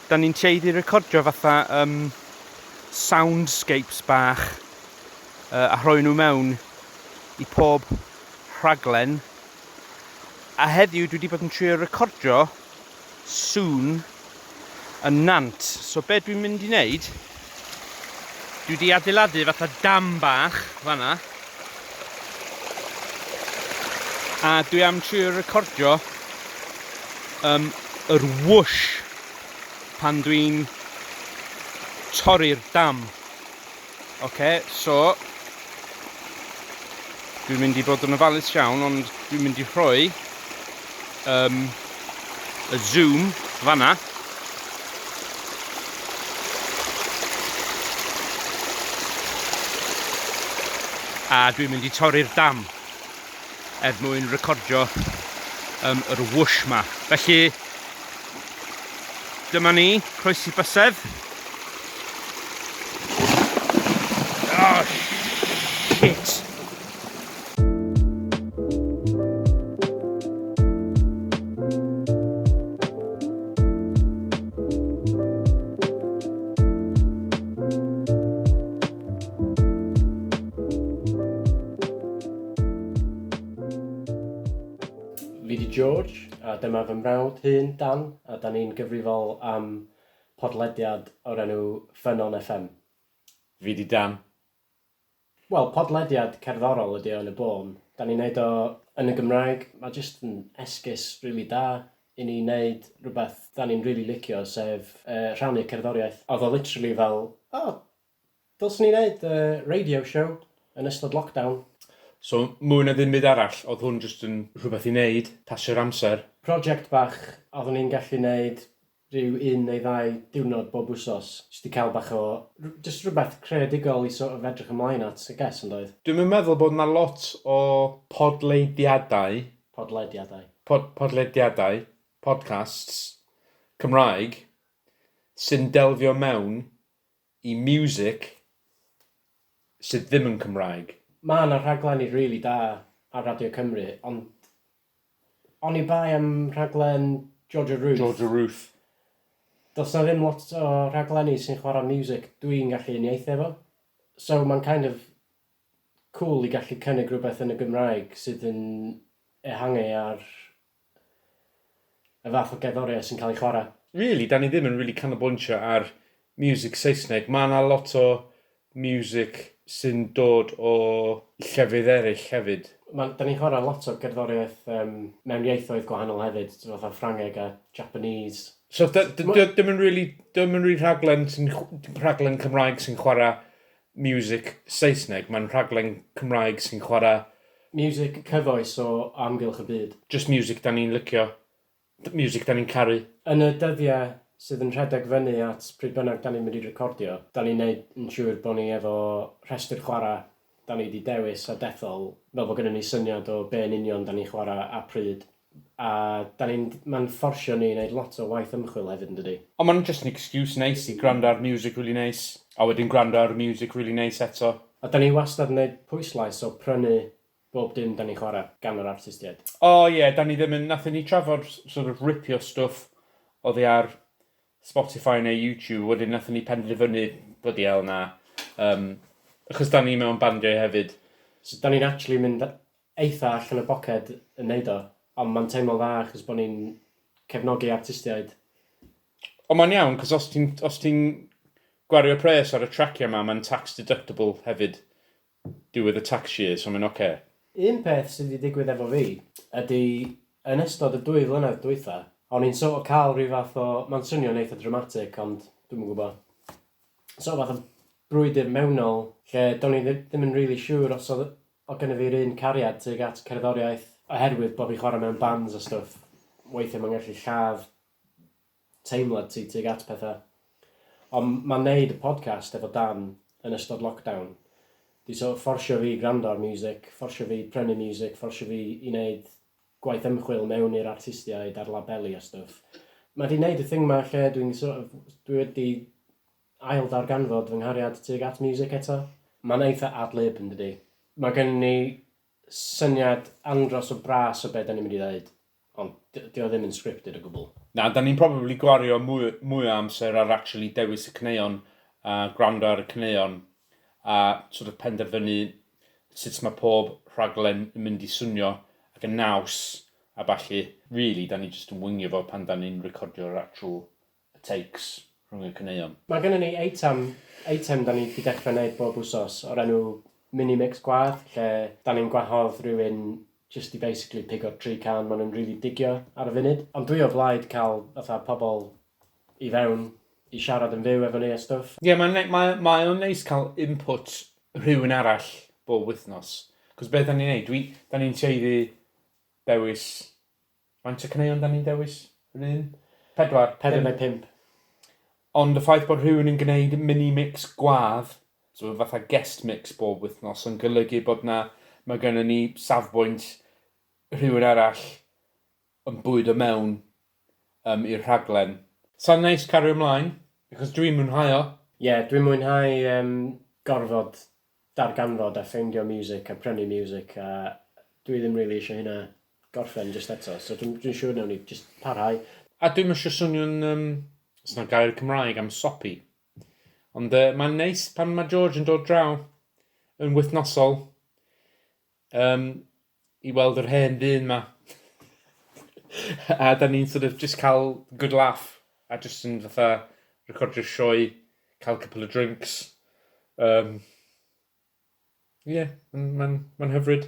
Da ni'n tueddu recordio fatha um, soundscapes bach uh, a rhoi nhw mewn i pob rhaglen. A heddiw dwi wedi bod yn trio recordio sŵn yn nant. So be dwi'n mynd i wneud Dwi wedi adeiladu fatha dam bach fanna. A dwi am trio recordio um, yr whoosh pan dwi'n torri'r dam. Oce, okay, so Dwi'n mynd i bod yn ofalus iawn, ond dwi'n mynd i rhoi um, y zoom fanna. A dwi'n mynd i torri'r dam. er mwyn recordio um, yr whoosh ma. Felly, dyma ni, croesi bysedd. Oh, shit! Fi di George a dyma fy mrawd hŷn Dan a da ni'n gyfrifol am podlediad o'r enw Ffynnon FM. Fi di Dan. Wel, podlediad cerddorol ydi o yn y bôn. Da ni'n neud o yn y Gymraeg, mae jyst yn esgus rili da i ni neud rhywbeth da ni'n rili licio sef yy rhannu cerddoriaeth. Oedd o literally fel, o, Dylsen ni neud radio show yn ystod lockdown. So mwy na ddim byd arall oedd hwn jyst yn rhywbeth i neud, pasio'r amser. Project bach a oeddwn i'n gallu neud rhyw un neu ddau diwrnod bob wsos jyst i cael bach o, jyst rhywbeth creadigol i sort of edrych ymlaen at I guess yn doedd? Dwi'm yn meddwl bod yna lot o podleidiadau, Podlediadau. pod, podlediadau, podcasts, Cymraeg sy'n delfio mewn i miwsic sydd ddim yn Cymraeg. Mae yna rhaglenni rili da ar Radio Cymru, ond oni bai am rhaglen George a Ruth... George a Ruth. ...does yna ddim lot o rhaglenni sy'n chwarae miwsic dwi'n gallu uniaethu efo. So mae'n kind of cŵl i gallu cynnig rhywbeth yn y Gymraeg sydd yn ehangu ar y fath o gerddoriaeth sy'n cael ei chwarae. Rili, 'da ni ddim yn rili canolbwyntio ar miwsig Saesneg. Ma' 'na lot o miwsig sy'n dod o llefydd eraill hefyd. Ma'n... 'da ni'n chwarae lot o gerddoriaeth yym mewn ieithoedd gwahanol hefyd, t'mod fatha Ffrangeg a Japanese. So 'da... 'di o ddim yn rili... 'di o'm yn rili rhaglen sy'n chw- rhaglen Cymraeg sy'n chwarae Music Saesneg, mae'n rhaglen Cymraeg sy'n chwarae... Music cyfoes o amgylch y byd. Jyst music 'da ni'n licio, music 'da ni'n caru. Yn y dyddiau sydd yn rhedeg fyny at pryd bynnag 'da ni'n mynd i recordio, 'da ni'n neud yn siŵr bod ni efo rhestr chwarae 'da ni 'di dewis a dethol fel bod gynnon ni syniad o be' yn union 'da ni'n chwarae a pryd. A dan ni'n... mae'n fforsio ni i wneud lot o waith ymchwil hefyd yn dydi? Ond mae'n just an excuse neis i gwrando ar music rili neis, a wedyn gwrando ar y music rili neis eto. A dan ni wastad yn wneud pwyslais o prynu bob dim dan ni'n chwarae gan yr artistiaid. O ie, dan ni ddim yn... wnaethon ni trafod sort of ripio stwff oddi ar Spotify neu YouTube, wedyn wnaethon ni penderfynu, blydi hell na, yym, achos dan ni mewn bandiau hefyd. So dan ni'n actually mynd eitha allan o boced yn neud o, ond ma'n teimlo'n dda achos bo ni'n cefnogi artistiaid. Ond ma'n iawn, cos os ti'n, os ti'n gwario pres ar y tracia ma, ma'n tax deductible hefyd diwedd y tax year, so ma'n oce. Okay. Un peth sy di digwydd efo fi, ydi yn ystod y dwy flynedd dwytha, o'n i'n sort o ca'l rhyw fath o, ma'n swnio'n eitha dramatic ond dwi'm yn gwbo, sort o fath o brwydr mewnol lle do'n i ddim yn rili siŵr os odd Mae gennyf i'r un cariad tuag at cerddoriaeth. Oherwydd bod fi'n chwarae mewn bands a stwff, weithiau mae'n gallu lladd teimlad ti tuag at pethau. Ond mae wneud y podcast efo Dan yn ystod lockdown 'di sort of fforsio fi i gwrando ar miwsic, fforsio fi i prynu miwsic, fforsio fi i wneud gwaith ymchwil mewn i'r artistiaid a'r labeli a stwff. Mae 'di wneud y thing 'ma lle dwi'n sort of, dwi wedi Ail ddarganfod fy nghariad tuag at miwsic eto. Mae'n eitha ad-lib, yn dydi? Mae gennyn ni syniad andros o bras o be' 'dan ni'n mynd i ddeud, ond 'di dio ddim yn scripted o gwbl. Na, 'dan ni'n probably gwario mwy mwy o amser ar actually dewis y caneuon a gwrando ar y caneuon a sort of penderfynu sut mae pob rhaglen yn mynd i swnio ac yn naws a ballu. Really, 'dan ni jyst yn wingio fo pan 'dan ni'n recordio'r actual y takes rhwng y caneuon. Mae gynnon ni eitem, eitem 'dan ni 'di dechre neud bob wsos o'r enw Mini Mix Gwadd lle 'dan ni'n gwahodd rywun jyst i basically pigo tri can ma' nhw'n rili digio ar y funud. Ond dwi o blaid ca'l fatha pobl i fewn i siarad yn fyw efo ni a stwff. Ie mae'n nei- mae mae o'n neis cael input rhywun arall bob wythnos. Cos be' 'dan ni'n neud dwi 'dan ni'n tueddu dewis Faint o caneuon da ni'n dewis? Yr un? Pedwar? Pedwar neu pump. Ond y ffaith bod rhywun yn gwneud mini-mix gwadd, so fatha guest mix bob wythnos, yn golygu bod na, mae gennym ni safbwynt rhywun arall yn bwyd o mewn um, i'r rhaglen. Sa'n neis cario ymlaen, achos dwi'n mwynhau o. Ie, yeah, dwi'n mwynhau um, gorfod darganfod a ffeindio miwsic a prynu miwsic a dwi ddim rili isio hynna gorffen jyst eto so dwi'n dwi'n siŵr nawn ni jyst parhau. A dwi'm isio swnio'n um, os na gair Cymraeg am sopi. Ond uh, mae'n neis pan mae George yn dod draw yn wythnosol. Um, i weld yr hen ddyn 'ma. a da ni'n sort of just cael good laugh a just yn fatha recordio'r sioe, cael couple of drinks. Um, Ie, yeah, mae'n ma hyfryd.